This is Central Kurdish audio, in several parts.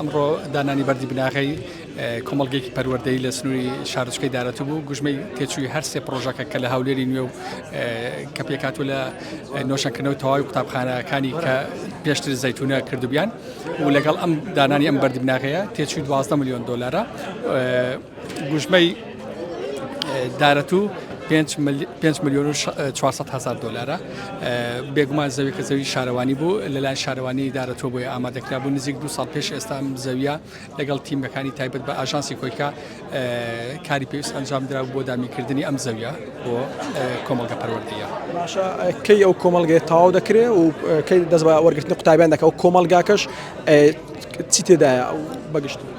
ئەمڕۆ دانانی بەردی بناغەی کۆمەڵگەیەکی پەروەردەی لە سنووری شارچکەی دارەتو بوو گوژمەی تێچووی هەر سێ پرۆژەکە کە لە هاولێری نوێ و کە پێکاتوو لە نۆشەکردنەوە تەواوی قوتابخانەکانی کە پێشتر زەتونە کردوبیان و لەگەڵ ئەم دانانی ئەم بەردی بناغەیە تێچووی 12 میلیۆن دلارە گوژمەی دارەتو پێنج ملیۆن و 400 هزار دلارە بێگومان زەوی کە زەوی شارەوانی بوو لەلایەن شارەوانی دارەتۆ بۆی ئامادەکرا بوو نزیک دو ساڵ پێش ئێستا زەویە لەگەڵ تیمەکانی تایبەت بە ئاژانسی کۆیکە کاری پێویست ئەنجام درا بۆ دامیکردنی ئەم زەویە بۆ کۆمەڵگە پەروەردەیە کەی ئەو کۆمەلگەی تاو دەکرێ و کەی دەست بە وەرگرتنی قوتابیان دەکە و کۆمەلگاکەش چی تێدایە بەگشتی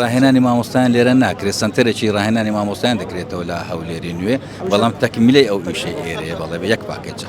ڕاهێنانی مامۆستایان لێرە ناکرێت سنتەرێکی ڕاهێنانی مامۆستایان دەکرێتەوە لە هەولێری نوێ بەڵام تەکمیلەی ئەو ئیشەی ئێرەیە بەڵێ یەک پاکێجە.